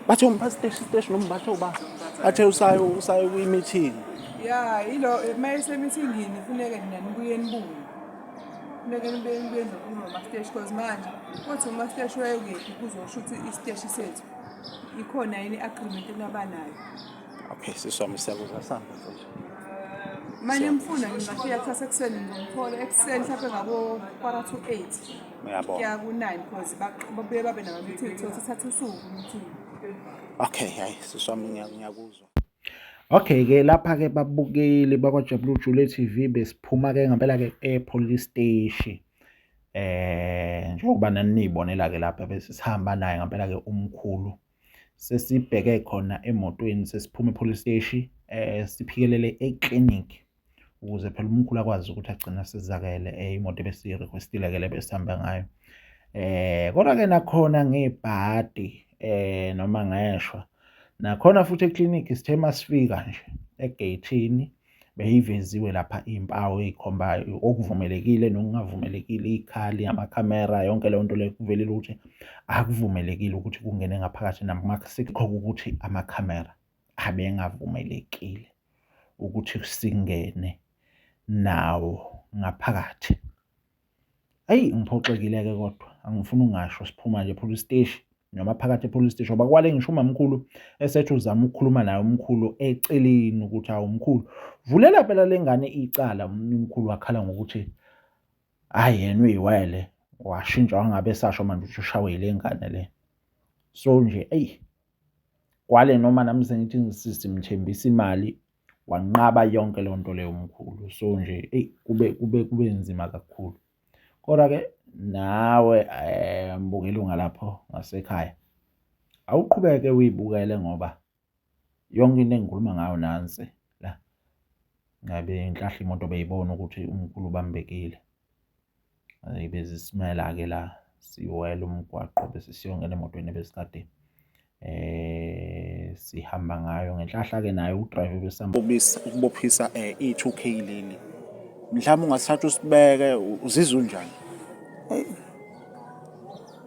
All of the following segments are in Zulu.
bathe umba station station noma bathe uba bathe usayo usayo kwi meeting ya ilo mayise meeting yini funeke nina nibuye nibuye funeke nibuye nibuye noma ma station cause manje uthi uma station wayekephi kuzosho ukuthi i station sethu ikhona yini agreement enabanayo okay siswami siyakuza samba mfethu manje mfuna ngingafika kusasa ekuseni ngomthola ekuseni mhlawumbe ngabo-quarter to eight uyabona kuya ku-nine because babuye babe nama-meeting so sithatha usuku meeting okay hayi siswami ngiyakuzwa Okay ke lapha ke babukeli bakwaJabulile Jule TV besiphuma ke ngempela ke epolice station eh njengoba nanibonela ke lapha bese sihamba naye ngempela ke umkhulu sesibheke khona emotweni sesiphuma epolice steshi eh siphikelele eclinic ukuze phela umkhulu akwazi ukuthi agcine asizakele eh, imoto ebesiyirequestile ke lebesihamba ngayo eh kodwa ke nakhona ngebhadi eh noma ngeshwa nakhona futhi eclinic sithe masifika nje egeyithini beyiveziwe lapha iy'mpawu ey'khombayo okuvumelekile nokungavumelekile iy'khali amakhamera yonke leyo nto leyo kuvelile ukuthi akuvumelekile ukuthi kungene ngaphakathi namasikho ukuthi amakhamera abengavumelekile ukuthi singene nawo ngaphakathi Ayi ngiphoxekile-ke kodwa angifuni ungasho siphuma nje police steshi noma phakathi e-police steshi ngoba kwale ngisho umamkhulu esethi uzama ukukhuluma naye umkhulu eceleni ukuthi hawu mkhulu vulela phela le ngane icala umkhulu wakhala ngokuthi hhayi yena uyiwele washintsha wangabe esasho manje ukuthi ushawe yile ngane le so nje eyi kwale noma nami sengithi ngisimthembisa imali wanqaba yonke leyo nto leyo mkhulu so nje eyi kube kube kube nzima kakhulu kodwa-ke nawe um mbuka ilunga lapho ngasekhaya awuqhubeke uyibukele ngoba yonke into engikhuluma ngayo nansi la ngabe inhlahla imoto beyibona ukuthi umkhulu ubambekile Hhayi bezisimela-ke la siwela umgwaqo bese siyongena emotweni ebesikade eh sihamba ngayo ngenhlahla ke naye udrive besihamba ukubophisa eh, i-2k leli mhlawumbe ungasithatha usibeke uzizwa unjani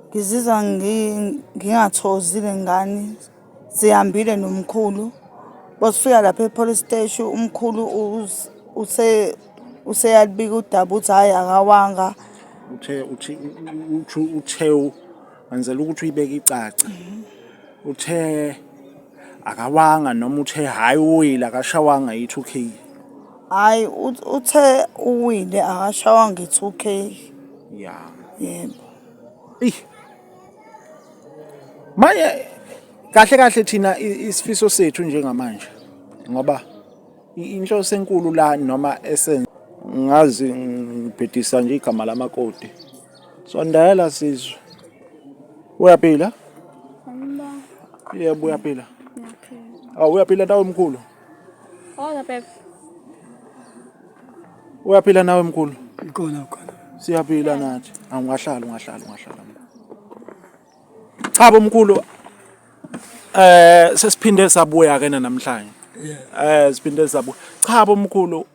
ngizizwa ngingathozile ngani Sihambile nomkhulu basifika lapha e-police steshi umkhulu us- use useyalibika udaba ukuthi hhayi akawanga uthe uthi uthi uthe wenzela ukuthi uyibeke icace uthe akawanga noma uthe hayi uwile akashawanga yithi ukhiye hhayi ut- uthe uwile akashawanga i-two k ya yebo eyi manje kahle kahle thina isifiso sethu njengamanje ngoba inhloso enkulu la noma esen ngazi ngibhedisa nje igama lamakoti sondela sizwe uyaphila yebo uyaphila awu uyaphila tawo mkhulu Oza bebe. Uyaphila nawe mkhulu? Ikhona khona. Siyaphila nathi. Angahlala ungahlala ungahlala. Cha bomkhulu eh sesiphinde sabuya ke namhlanje. Eh siphinde sabuya. Cha bomkhulu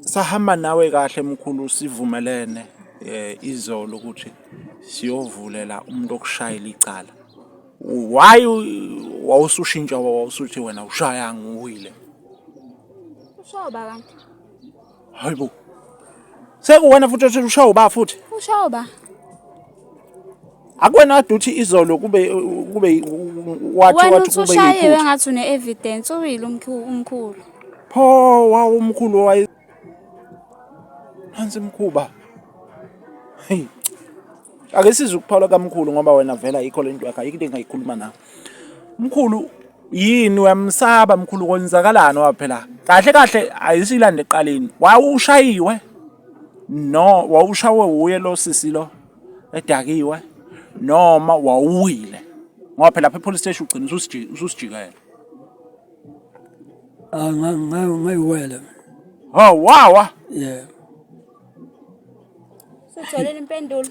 sahamba nawe kahle mkhulu sivumelene eh izolo ukuthi siyovulela umuntu okushayela icala why wawusushintsha wawusuthi wena ushaya nguwile ushawa ba kanti hayibo sekuwena futhi othi ushawa ba futhi ushawa ba akwena kade uthi izolo kube kube wathi wena wathi kube usushayiwe yiphutha ngathi une-evidence uwile umkhu- umkhulu pho wawu umkhulu waye phansi mkhuba hey ake size ukuphawula kamkhulu ngoba wena vela yikho lento yakho ayikho into engayikhuluma nawe mkhulu yini uyamsaba mkhulu kwenzakalani waphela kahle kahle ayisilande eqaleni wawushayiwe no wawushawe wuye lo sisi lo edakiwe noma wawuwile ngoba phela lapha epolice station ugcina ususiji- ususijikela Ah, nga- nga- ngayiwela oh wawa yeah Sutholile impendulo.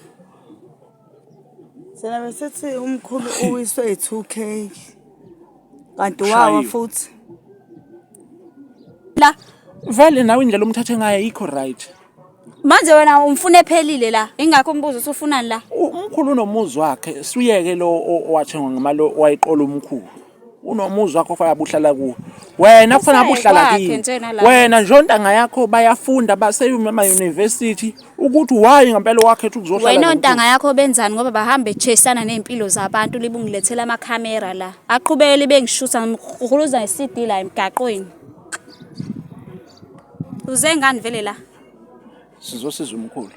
Thina besithi umkhulu uwiswe yi-two k kanti wawa Shaywa. futhi la vele nawe indlela omthathe ngayo ayikho right manje wena umfuna ephelile la ingakho umbuzo usufunani la U- umkhulu unomuzi wakhe suyeke lo o- owathengwa ngemali owayiqola umkhulu unomuzi wakho fana buhlala kuwo wena kufana buhlala kini wena njontanga yakho bayafunda baseyuma ema-university ukuthi why ngempela wakhetha ukuzohlala wena ontanga yakho benzani ngoba bahamba echesana ney'mpilo zabantu libungilethela amakhamera la aqhubeke libe ngishutha ngihuluza nge-cd la emgaqweni uze ngani vele la Sizosiza umkhulu.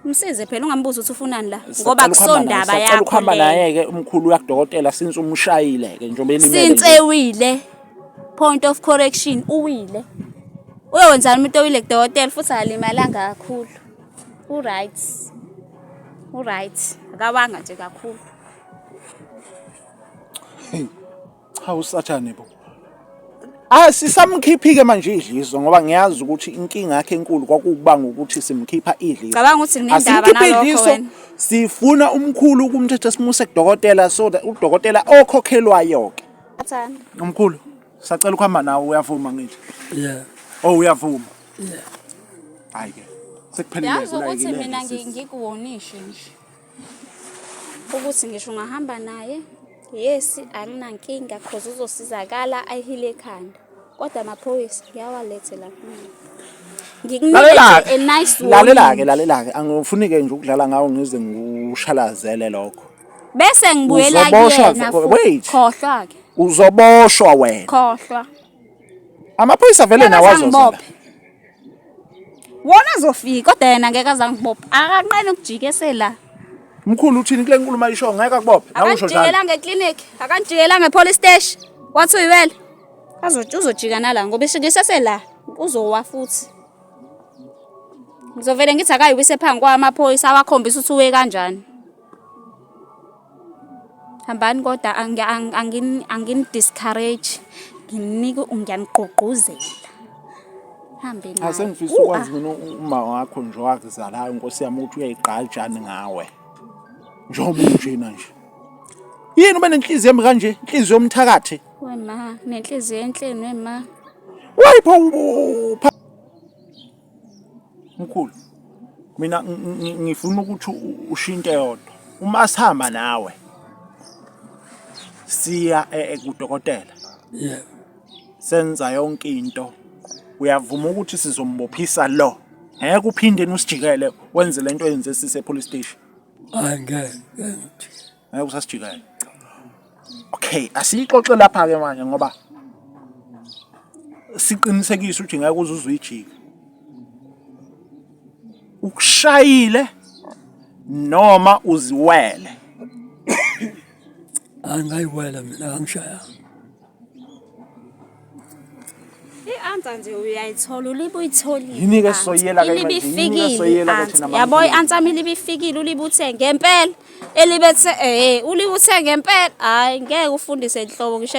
Msize phela ungambuza ukuthi ufunani la ngoba kusondaba yakho. Sicela ukuhamba naye ke umkhulu uyakudokotela since umshayile ke njengoba elimele. Since ewile. Point of correction uwile. Uyowenzani umuntu owile kudokotela futhi alimalanga kakhulu. U right. U right. Akawanga nje kakhulu. Cha usathane bo. Ah sisamkhiphike manje idliso ngoba ngiyazi ukuthi inkinga yakhe enkulu kwakubanga ukuthi simkhipha idliso. Cabanga ukuthi nginendaba nalokho wena. Sifuna umkhulu ukumthetha simuse kudokotela so that udokotela okhokhelwayo ke. Athanda. Umkhulu sacela ukuhamba nawe uyavuma ngithi. Yeah. Oh uyavuma. Yeah. Hayi ke. Sekuphelile kula yini. Yazi ukuthi mina ngikuwonishe nje. ukuthi ngisho ungahamba naye yes anginankinga cause uzosizakala ayihile ekhanda kodwa amaphoyisa ngiyawalethela kumina ngikunike a nice warning lalela-ke lalela-ke angifuni-ke nje ukudlala ngawo ngize ngikushalazele lokho bese ngibuyela Uzoboshwa kuyena vele, wait. khohlwa-ke uzoboshwa wena khohlwa Amaphoyisa vele nawo azozala. Wona azofika kodwa yena ngeke azangibopha. Akanqeni ukujika esela. Mkhulu uthini kule nkulumo ayisho ngeke akubophe. Nawe usho njalo. Akanjikela ngeclinic, akanjikela ngepolice station. Wathi uyiwele. Azothi uzojika nala ngoba ishikise sela uzowa futhi. Ngizovele ngithi akayiwise phangi kwamaphoyisa awakhombisa ukuthi uwe kanjani. hambani kodwa angini-discourage nginike ngiyanigqugquzela hambe naye asengifisa ukwazi mina uma wakho nje wakuzalayo nkosi yami ukuthi uyayigqajani ngawe njengoba unjena nje yini ube nenhliziyo embi kanje inhliziyo yomthakathi wema nenhliziyo enhleni wema wayipha Mkhulu mina ngifuna ukuthi ushinte yodwa uma sihamba nawe siya eh, eh, kudokotela yeah senza yonke into uyavuma ukuthi sizombophisa lo ngeke uphinde usijikele wenze lento yenze sise police station angeke ngeke usasijikela okay asiyixoxe lapha ke manje ngoba siqinisekise ukuthi ngeke uze uzuyijike ukushayile noma uziwele angayiwela mina angishayanga i-answer nje uyayithola ulibe uyitholile Yini-ke i-answer. soyela-ke manje? Ilibe Yini-ke ifikile soyela-ke i-answer. thina yabo maNkulunkulu? i-answer yami ilibe ifikile ulibe uthe ngempela elibe the eh ulibe uthe ngempela hayi ngeke ufundise nhlobo ngisho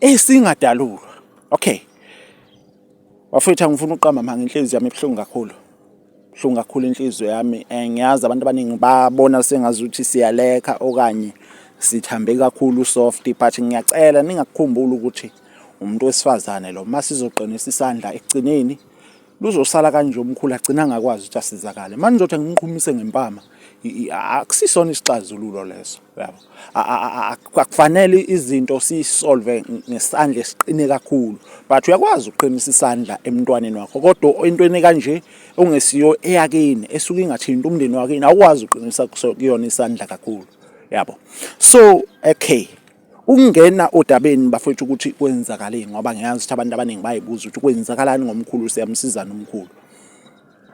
esingadalulwa okay wafethu angifuna uqamba manga inhliziyo yami ebuhlungu kakhulu buhlungu kakhulu inhliziyo yami eh, ngiyazi abantu abaningi babona sengazi ukuthi siyalekha okanye sithambe kakhulu soft but ngiyacela ningakukhumbula ukuthi umuntu wesifazane lo masizoqinisa isandla ekugcineni luzosala kanje umkhulu agcina angakwazi ukuthi asizakale manje ngizothi angiqhumise ngempama akusisona isixazululo leso yabo akufanele izinto siyisolve ngesandla esiqine kakhulu but uyakwazi ukuqinisa isandla emntwaneni wakho kodwa entweni kanje ongesiyo eyakini esuke ingathinta umndeni wakini awukwazi uqinisa kuyona isandla kakhulu yabo so okay Ukungena odabeni bafethu ukuthi kwenzakaleni ngoba ngiyazi ukuthi abantu abaningi bayibuza ukuthi kwenzakalani ngomkhulu siyamsizana umkhulu.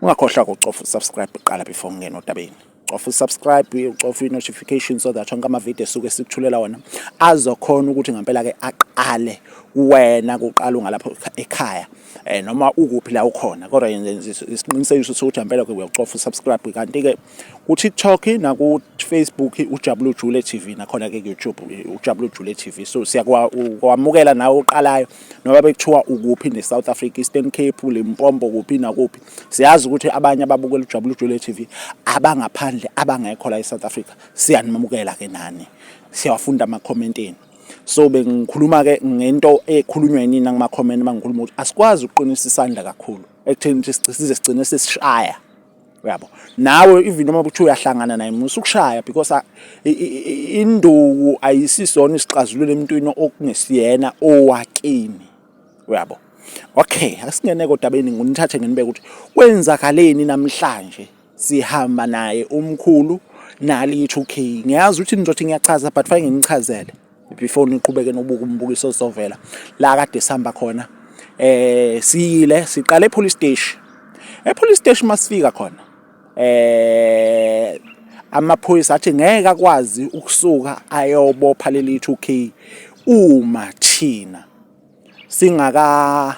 Ungakhohlwa ukucofa usubscribe kuqala before ungena odabeni. Cofa usubscribe, ucofa i-notification so that onke amavidiyo esuke sikuthulela wona azokhona ukuthi ngempela-ke aqale kuwena kuqala ungalapho ekhaya um noma ukuphi la ukhona kodwa yenze isiqinisekiso sokuthi ngempela-ke uyakucofa usubscribe kanti-ke ku-TikTok naku-Facebook ujabule ujule TV nakhona ke ku-YouTube ujabule ujule TV so siyakwamukela nawe oqalayo noma bekuthiwa ukuphi ne-South Africa Eastern Cape Limpopo kuphi nakuphi siyazi ukuthi abanye ababukela ujabule ujule TV abangaphandle abangekho la e-South Africa siyanimamukela ke nani siyawafunda ama-comment enu so bengikhuluma ke ngento ekhulunywa yini nakuma-comment mangikhuluma ukuthi asikwazi ukuqinisa isandla kakhulu ekutheni size sigcine sesishaya uyabo nawe even noma kuthiwa uyahlangana naye musa ukushaya because induku ayisisona isixazululo emntwini okungesiyena owakini uyabo okay asingene kodwa beni nginithathe nginibeke ukuthi kwenzakaleni namhlanje sihamba naye umkhulu nali 2K ngiyazi ukuthi nizothi ngiyachaza but fanele nginichazele before niqhubeke nobuka umbukiso ozovela la kade sihamba khona eh siyile siqale epolice station epolice station masifika khona eh amaphoyisa athi ngeke akwazi ukusuka ayobopha leli 2K uma thina singaka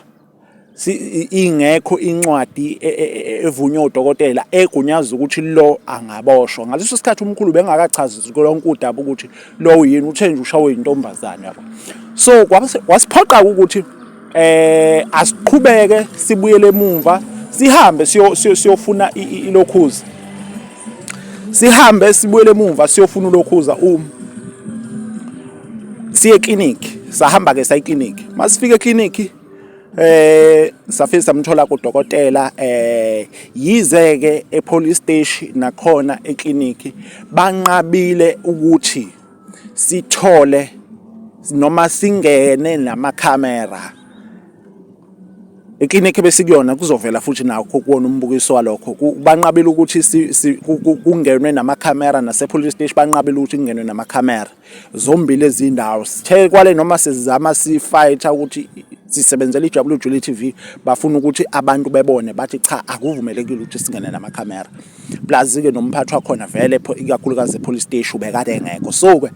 ingekho incwadi e, e, e, evunywe udokotela egunyaza ukuthi lo angaboshwa ngaleso sikhathi umkhulu bengakachazi lonke udaba ukuthi lo uyini uthe nje ushawe intombazane yabo so wasiphoqa ukuthi eh asiqhubeke sibuyele emuva sihambe siyofuna ilokhuza sihambe sibuyele emuva siyofuna ulokhuza um siye clinic sahamba ke sayi clinic masifike clinic eh safike samthola kudokotela eh yize ke epolice station nakhona eclinic banqabile ukuthi sithole noma singene nama camera eclinic besikuyona kuzovela futhi nakho kuwona umbukiso walokho banqabile ukuthi kungenwe nama camera nase police station banqabile ukuthi kungenwe nama camera zombili ezindawo sithe kwale noma sizama sifighter ukuthi sisebenzela iWJL TV bafuna ukuthi abantu bebone bathi cha akuvumelekile ukuthi singene nama camera plus ke nomphathi wakhona vele ikakhulukazi police station ubekade engekho so ke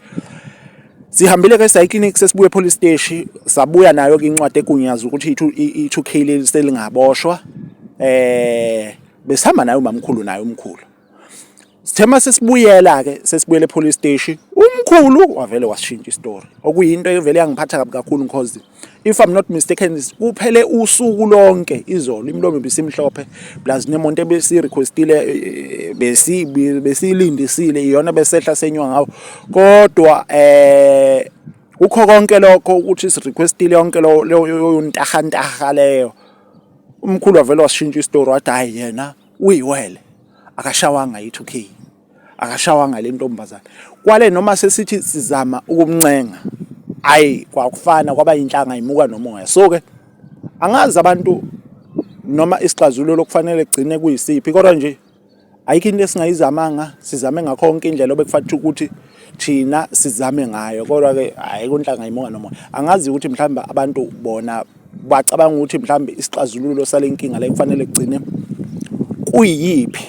sihambile ke sayi clinic sesibuye police station sabuya nayo ke incwadi egunyaza ukuthi i2K leli selingaboshwa eh besihamba nayo mamkhulu nayo umkhulu Sithema sesibuyela ke sesibuyele police station umkhulu wavele washintsha istory okuyinto evele yangiphatha kabi kakhulu because if i'm not mistaken kuphele usuku lonke izolo imlomo bisimhlophe plus nemonto ebesi requestile eh, eh, besi besilindisile iyona besehla senywa ngawo kodwa eh ukho konke lokho ukuthi si requestile yonke leyo ntahantaha leyo umkhulu wavele washintsha istory wathi hayi yena uyiwele akashawanga i 2K akashawanga le ntombazane kwale noma sesithi sizama ukumncenga ayi kwakufana kwaba inhlanga imuka nomoya so ke angazi abantu noma isixazululo kufanele kugcine kuyisiphi kodwa nje ayikho into esingayizamanga sizame ngakho konke indlela obekufanele ukuthi thina sizame ngayo kodwa ke hayi kunhlanga imunga noma angazi ukuthi mhlawumbe abantu bona bacabanga ukuthi mhlawumbe isixazululo sale nkinga la ekufanele kugcine kuyiphi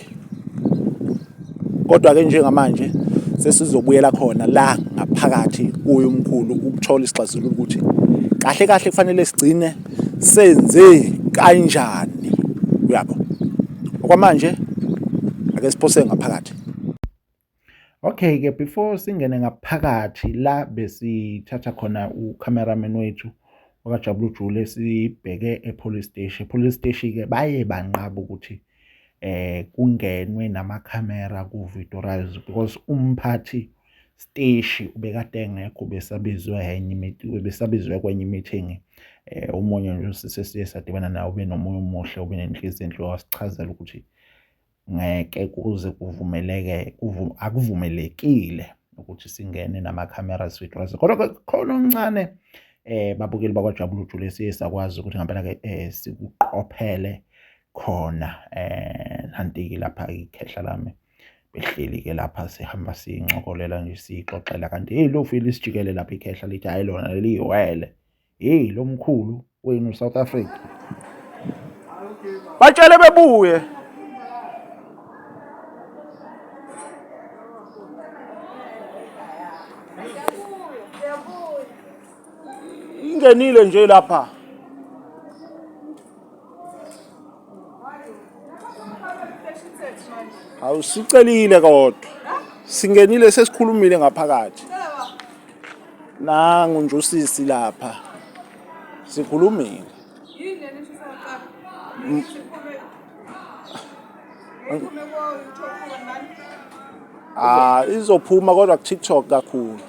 kodwa-ke njengamanje sesizobuyela khona la ngaphakathi kuye umkhulu ukuthola isixazululo ukuthi kahle kahle kufanele sigcine senze kanjani uyabo okwamanje ake siphose ngaphakathi Okay-ke before singene ngaphakathi la besithatha khona u-cameraman wethu wakajabula ujule sibheke e-police steshi e-police steshi-ke baye banqaba ukuthi eh kungenwe namakhamera ku-videorize because umphathi steshi ubekade engekho besabizwe enye imithi besabizwe kwenye imeeting eh umunye nje usise siye sadibana nawo benomunye umuhle obenenhliziyo enhle wasichazela ukuthi ngeke kuze kuvumeleke akuvumelekile ukuthi singene nama-cameras withosa kodwa khona omncane eh babukeli bakwajabula ujule siye sakwazi ukuthi ngempela ke eh, sikuqophele khona eh nanti lapha ikhehla lami behleli ke lapha sihamba sincokolela nje sixoxela kanti hey lo file isijikelele lapha ikhehla lithi hayi lona leliyiwele hey lo mkhulu wenu south africa batshele bebuye ingenile nje lapha Hawu sicelile kodwa. Singenile sesikhulumile ngaphakathi. Nangu nje usisi lapha. Sikhulumile. Ah izophuma kodwa ku TikTok kakhulu.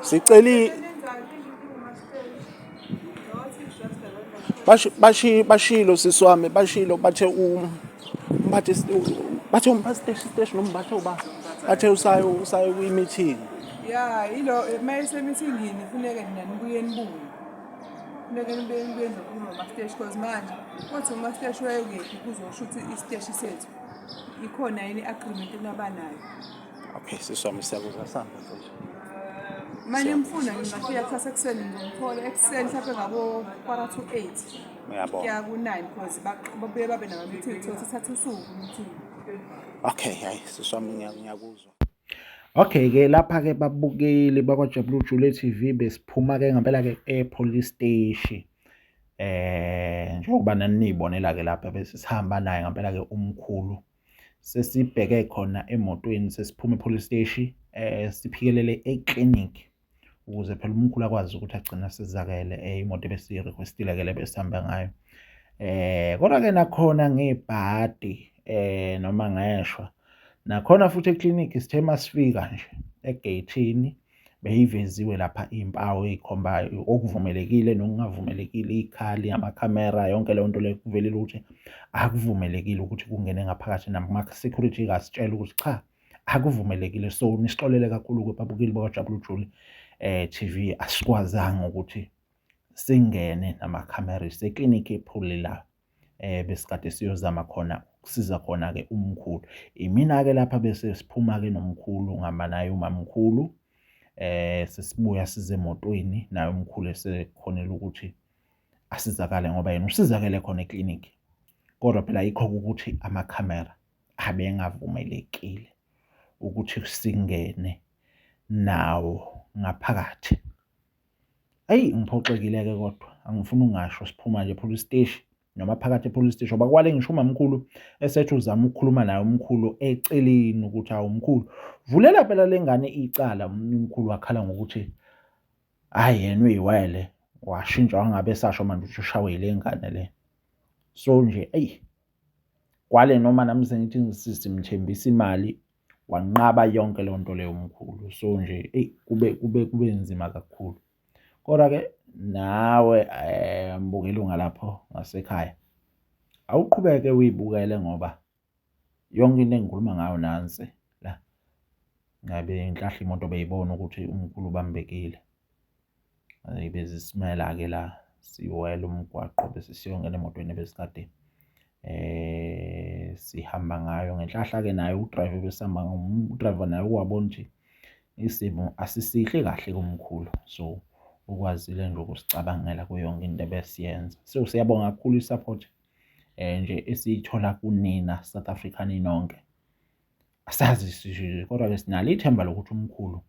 Siceli bashi bashilo sisi wami bashilo bathe um bathe bathe umpasiteshi siteshi nombathe uba bathe usayo usayo kwi meeting ya ilo mayise meeting yini funeke nina nibuye nibuye funeke nibuye nibuye noma masteshi cause manje kuthi umasteshi wayekephi kuzosho ukuthi isteshi sethu ikhona yini agreement enabanayo Okay, sisi wami siyakuza sihamba mfethu. Uma nimfuna ngingafika kusasa ekuseni ngimthole ekuseni mhlawumbe ngabo quarter to eight Uyabona. kuya ku-nine because ba- babuye babe nama-meeting so sithatha usuku meeting Okay, hayi sisi wami ngiya- ngiyakuzwa. Okay ke lapha ke babukeli bakwaJabulile Jule TV besiphuma ke ngempela ke ePolice Station. Eh njengoba nanibonela ke lapha bese sihamba naye ngempela ke umkhulu sesibheke khona emotweni sesiphuma epolice steshi eh siphikelele eclinic ukuze phela umkhulu akwazi ukuthi agcine asizakele eh, imoto ebesiyirequestile ke lebesihamba ngayo eh kodwa ke nakhona ngebhadi eh noma ngeshwa nakhona futhi eclinic sithe masifika nje egeyithini beyiveziwe lapha iy'mpawu ey'khombayo okuvumelekile nokungavumelekile iy'khali amakhamera yonke leyo nto leyo kuvelile ukuthi akuvumelekile ukuthi kungene ngaphakathi nama-security kasitshela ukuthi cha akuvumelekile so nisixolele kakhulu-ke babukeli bakajabula ujuli um eh, TV asikwazanga ukuthi singene namakhamera iseklinikhi ephuli la eh besikade siyozama khona ukusiza khona-ke umkhulu. Imina-ke lapha bese siphuma-ke nomkhulu ngihamba naye umamkhulu eh sesibuya size emotweni naye umkhulu esekhonela ukuthi asizakale ngoba yena usizakele khona eclinic kodwa phela yikho ukuthi amakhamera abengavumelekile ukuthi singene nawo ngaphakathi. Eyi ngiphoxekile-ke kodwa angifuni ungasho siphuma nje police steshi noma phakathi e-police steshi ngoba kwale ngisho umamkhulu esethi uzama ukukhuluma naye umkhulu eceleni ukuthi awu mkhulu vulela phela le ngane icala umkhulu wakhala ngokuthi hhayi yena uyiwele washintsha wangabe esasho manje ukuthi ushawe yile ngane le so nje eyi kwale noma nami sengithi ngisimthembisa imali wanqaba yonke leyo nto leyo mkhulu so nje eyi kube kube kube nzima kakhulu kodwa-ke nawe um mbuka ilunga lapho ngasekhaya awuqhubeke uyibukele ngoba yonke into engikhuluma ngayo nansi la ngabe ngihlahla imoto beyibona ukuthi umkhulu ubambekile Eyi bezisimela-ke la siwela umgwaqo bese siyongena emotweni ebesikade sihamba ngayo. Ngenhlahla-ke naye udrayiva ebesihamba udrayiva naye ukwabona ukuthi isimo asisihle kahle kumkhulu. So, ukwazile nje ukusicabangela kuyo yonke into ebesiyenza. So, siyabonga kakhulu i-support nje esiyithola kunina South Africa ninonke. Asazi sishilo kodwa-ke sinalo ithemba lokuthi umkhulu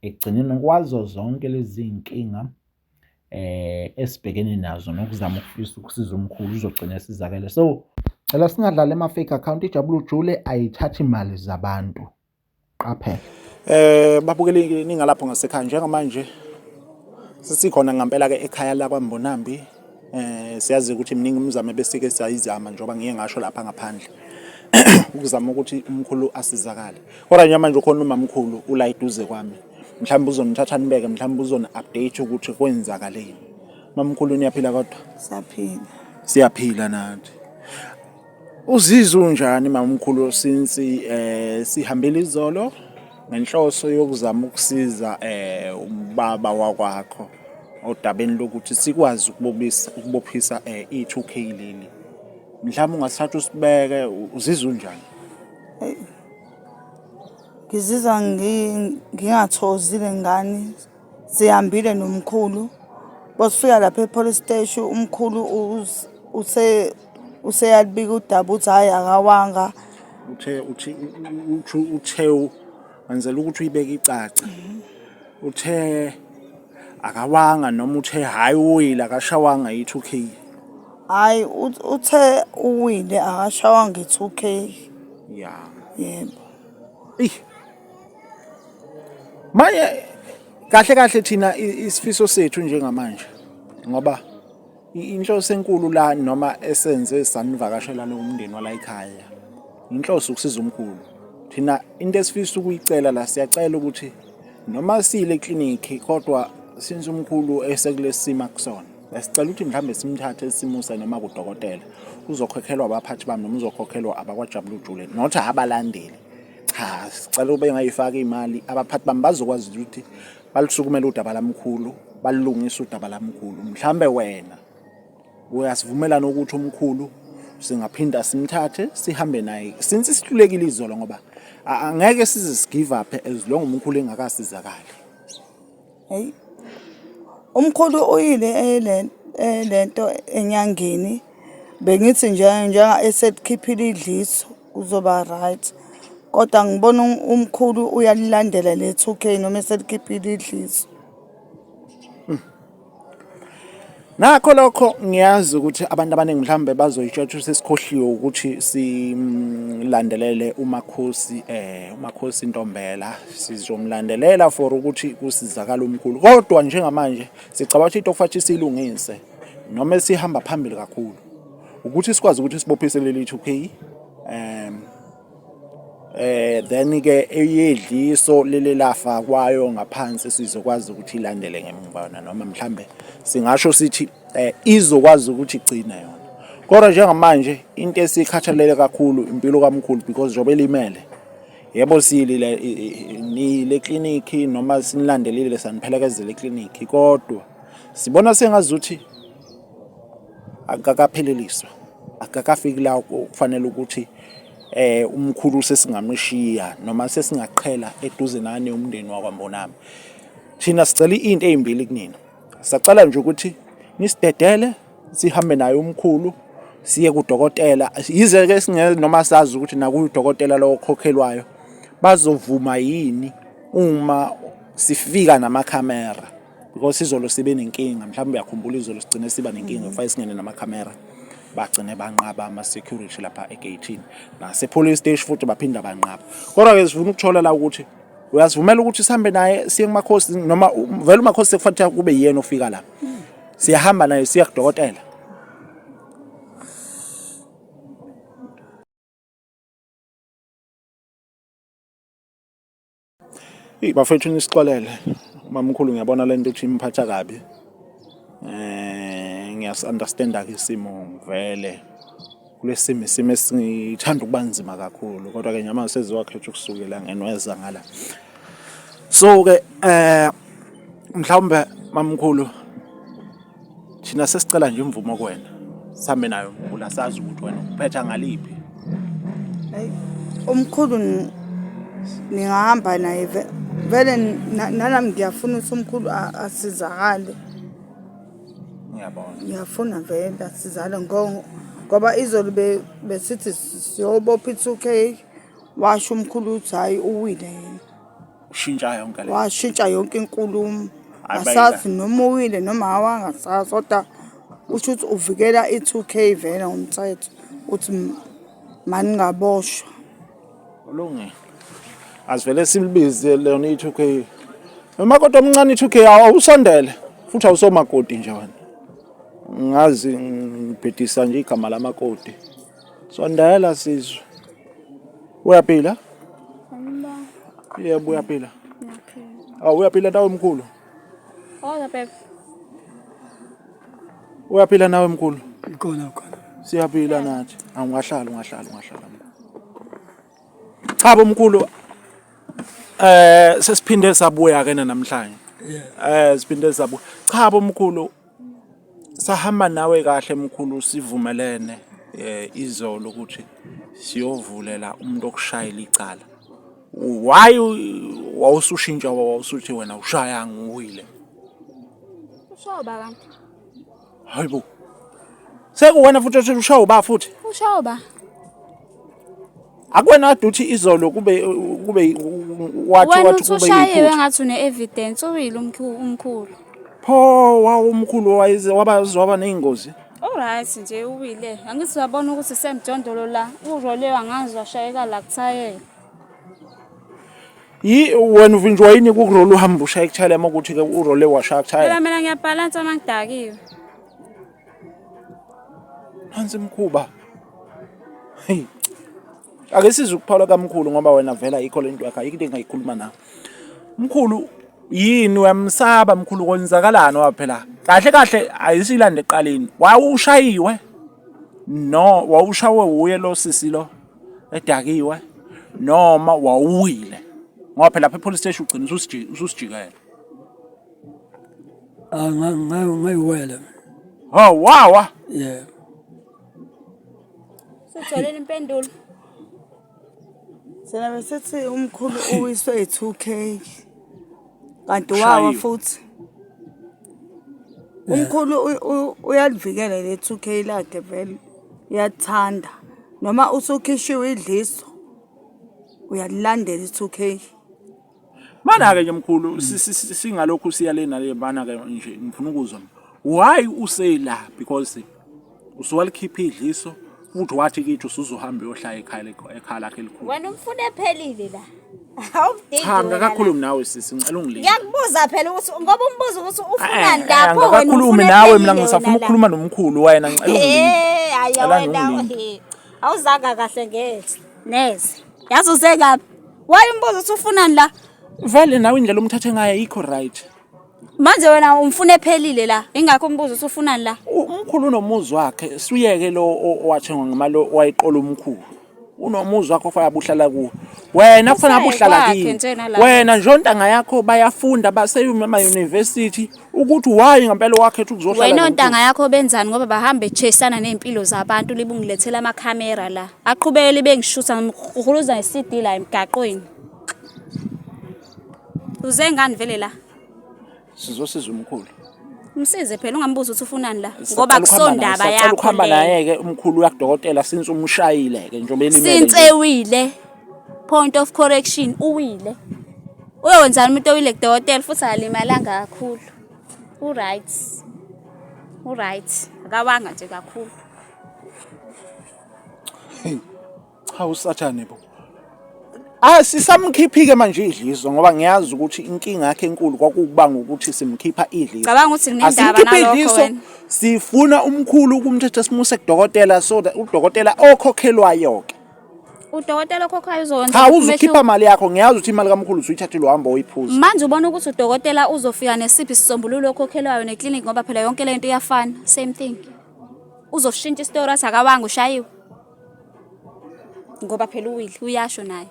ekugcineni kwazo zonke lezi zinkinga eh esibhekene nazo nokuzama ukufisa ukusiza umkhulu uzogcina esizakele so cela singadlali ama-fake account ijabula ujule ayithathi imali zabantu qaphela eh babukeli ningalapho ngasekhaya njengamanje sesikhona ngempela-ke ekhaya lakwambonambi Eh siyazi ukuthi miningi imizamo besike siyayizama njengoba ngiye ngasho lapha ngaphandle. Ukuzama ukuthi umkhulu asizakale. Kodwa nje manje ukhona umamkhulu ula eduze kwami. Mhlawumbe uzonithatha nibeke, mhlawumbe uzoni update ukuthi kwenzakaleni. Mamkhulu niyaphila kodwa? Siyaphila. Siyaphila nathi. Uzizwe unjani mamkhulu since eh sihambile izolo ngenhloso yokuzama ukusiza eh ubaba wakwakho odabeni lokuthi sikwazi ukubobisa ukubophisa eh i2K leli. Mhlawumbe ungasithatha usibeke uzizwe unjani? Ngizizwa ngingathozile ngani Sihambile nomkhulu bosifika lapha e-police steshi umkhulu us- use useyalibika udaba uthi hhayi akawanga uthe uthi uthe uthe wenzela ukuthi uyibeke icace uthe akawanga noma uthe hayi uwile akashawanga yi-2 k hhayi uth- uthe uwile akashawanga i-two k ya yebo eyi manje kahle kahle thina isifiso sethu njengamanje ngoba inhloso enkulu la noma esenze sanivakashela nomndeni wala ekhaya inhloso ukusiza umkhulu thina into esifisa ukuyicela la siyacela ukuthi noma sile clinic kodwa since umkhulu esekulesima kusona sicela ukuthi mhlambe simthathe simuse noma kudokotela uzokhokhelwa abaphathi bami noma uzokhokhelwa abakwajabulujule not abalandeli cha sicela ube ngayifaka imali abaphathi bami bazokwazi ukuthi balusukumela udaba lamkhulu balungisa udaba lamkhulu mhlambe wena uyasivumelana ukuthi umkhulu singaphinda simthathe sihambe naye since sihlulekile izolo ngoba angeke size sigive up as long umkhulu engakasizakali Hhayi, umkhulu uyile le nto enyangeni, bengithi nje njengoba eselikhiphile idliso uzoba right, kodwa ngibona umkhulu uyalilandela le-two K noma eselikhiphile idliso. Nakho lokho ngiyazi ukuthi abantu abaningi mhlawumbe bazoyitshwatshisa esikhohliwe ukuthi silandelele uMakhosi eh uMakhosi Ntombela sizomlandelela for ukuthi kusizakala umkhulu kodwa njengamanje sicabanga ukuthi into okufanele silungise noma esihamba phambili kakhulu ukuthi sikwazi ukuthi sibophise leli 2K um Eh then-ke eyedliso leli lafakwayo ngaphansi sizokwazi ukuthi ilandele ngemuva yona noma mhlambe singasho sithi eh izokwazi ukuthi igcine yona. Kodwa njengamanje into esikhathalele kakhulu impilo kamkhulu because njengoba elimele yebo siyilile niyile eklinikhi noma sinilandelile saniphelekezele eklinikhi kodwa sibona sengazuthi. akakapheleliswa akakafiki la kufanele ukuthi eh umkhulu sesingamshiya noma sesingaqhela eduze nani umndeni wakwaMbonami thina sicela into ezimbili kunina sacela nje ukuthi nisidedele sihambe naye umkhulu siye kudokotela yize ke singeke noma sazi ukuthi nakudokotela lowo khokhelwayo bazovuma yini uma sifika namakhamera because izolo sibe nenkinga mhlawumbe uyakhumbula izolo sigcine siba nenkinga kufanele mm. singene namakhamera bagcine banqaba ama-security lapha egeyithini nasepolice station futhi baphinda banqaba kodwa-ke sifuna ukuthola la ukuthi uyasivumela ukuthi sihambe naye siye kumakhosi noma vele umakhosi sekufanele kube yiyena ofika lapha mm. siyahamba naye siya kudokotela Hey bafethu nisixolele mamkhulu ngiyabona lento ukuthi imphatha kabi eh ngiyas understanda ke isimo vele kulesimo isimo esithanda ukuba nzima kakhulu kodwa ke nyama seziwakhetha ukusukela ngenweza ngala so ke eh mhlawumbe mamkhulu Thina sesicela nje imvumo kuwena. Sambe nayo mkhulu asazi ukuthi wena uphetha ngaliphi. Hayi umkhulu ni- ningahamba naye ve- vele na- nalami ngiyafuna ukuthi umkhulu a- asizakale Ngiyabona. ngiyafuna vele asizale ngo- ngoba izolo be- besithi siyobopha i-two k washo umkhulu ukuthi hhayi uwile yena ushintsha yonke le washintsha yonke inkulumo asazi noma uwile noma awangasazi kodwa usho ukuthi uvikela i-two k vele ngomthetho ukuthi maningaboshwa kulungile asivele silibize lona i-two k noma kodwa omncane i-two k awusondele futhi awusomakoti nje wena ngazi ngibhedisa nje igama lamakoti Sondela sizwe. Uyaphila? Yebo uyaphila. Awu oh, uyaphila nawe mkhulu. Hola Pep. Uyaphila nawe mkhulu? Ikhona khona. Siyaphila nathi. Angahlala ungahlala ungahlala. Cha bomkhulu eh sesiphinde sabuya ke namhlanje. Eh siphinde sabuya. Cha bomkhulu sahamba nawe kahle mkhulu sivumelene eh izolo ukuthi siyovulela umuntu okushayela icala why wawusushintsha wawusuthi wena ushaya ngiwile ushawa ba kanti hayibo sekuwena futhi othi ushawa ba futhi ushawa ba akwena kade uthi izolo kube kube wathi wena wathi kube usushayiwe yiphutha ngathi une-evidence uwile umkhu- umkhulu pho wawo umkhulu wayize waba waba neyingozi oryt nje uwile angithi uyabona ukuthi semjondolo la urolewe angazi washayeka la kuthayela yi wena uvinjwa yini kukurola uhamba ushaya kuthayela uma ukuthi ke urole washaya kuthayela phela mina ngiyabhalansa uma ngidakiwe Nansi imkhuba. Hey. Ake size ukuphala kamkhulu ngoba wena vela ikho lento yakhe ayikho into engayikhuluma nawe. Mkhulu yini uyamsaba mkhulu konzakalani waphela? Kahle kahle ayisilande eqaleni. Wawushayiwe. No, wawushawe wuye lo sisi lo edakiwe noma wawuwile. Ngoba phela lapha epolice station ugcina ususijikela. Ah, nga- nga- ngayiwele Ha wawa. yeah Sotholeni impendulo. Thina besithi umkhulu uwiswe yi-2K. Kanti wawa Ushayiwe. futhi. Umkhulu u- u- uyalivikela le 2K lakhe vele. Uyathanda. Noma usukhishiwe idliso. Uyalilandela i-2K. Mana-ke nje mkhulu singalokhu siya le nale mana-ke nje ngifuna ukuzwa why useyila because usuwalikhipha idliso futhi wathi kithi usuzohamba uyohlala ekhaya ekhaya lakhe elikhulu wena umfuna ephelile la Cha ngakakhulumi nawe sisi ngicela ungilinde. Ngiyakubuza phela ukuthi ngoba umbuzo ukuthi ufunani eh, eh, lapho wena. Ngakakhulumi nawe mina ngisafuna ukukhuluma nomkhulu wena ngicela ungilinde. Eh, hayi wena. Awuzanga kahle ngeke. Neze. yazi usekaphi waye umbuzo ukuthi ufunani la vele nawe indlela omthathe ngayo ayikho right manje wena umfuna ephelile la ingakho umbuzo ukuthi ufunani la U- umkhulu unomuzi wakhe suyeke lo o- owathengwa ngemali o- owayiqola umkhulu unomuzi wakhe ofanele abuhlala kuwo wena kufanele Usaye abuhlala kwakhe kini njena la. wena nje ontanga yakho bayafunda baseyuma emayunivesithi ukuthi why ngempela wakhetha ukuzohlala wena ontanga yakho benzani ngoba bahambe chesana nezimpilo zabantu libungilethela ama camera la aqhubeke libe ngishutha ngihuluza iCD la emgaqweni uze ngani vele la sizosiza umkhulu Msize phela ungambuza ukuthi ufunani la ngoba kusondaba yakho. Ukhamba naye ke umkhulu yakudokotela since umshayile ke njengoba elimele. Since ewile. Point of correction, uwile. Uyokwenzani umuntu owile kudokotela futhi akalimalanga kakhulu. U-right. U-right. Akawanga nje kakhulu. Cha usathane bo. Ah sisamkhiphike manje idliso ngoba ngiyazi ukuthi inkinga yakhe enkulu kwakubanga ukuthi simkhipha idliso. Cabanga ukuthi kunendaba nalokho wena. Sifuna umkhulu ukumthetha simuse kudokotela so that udokotela okhokhelwayo ke. udokotela okhokhayo uzokwenza cha uzokhipha imali yakho ngiyazi ukuthi imali kamkhulu usuyithathile uhamba oyiphuza manje ubona ukuthi udokotela uzofika nesiphi isisombululo okhokhelwayo neclinic ngoba phela yonke le nto iyafana same thing uzoshintsha isitori athi akawanga ushayiwe ngoba phela uwile uyasho naye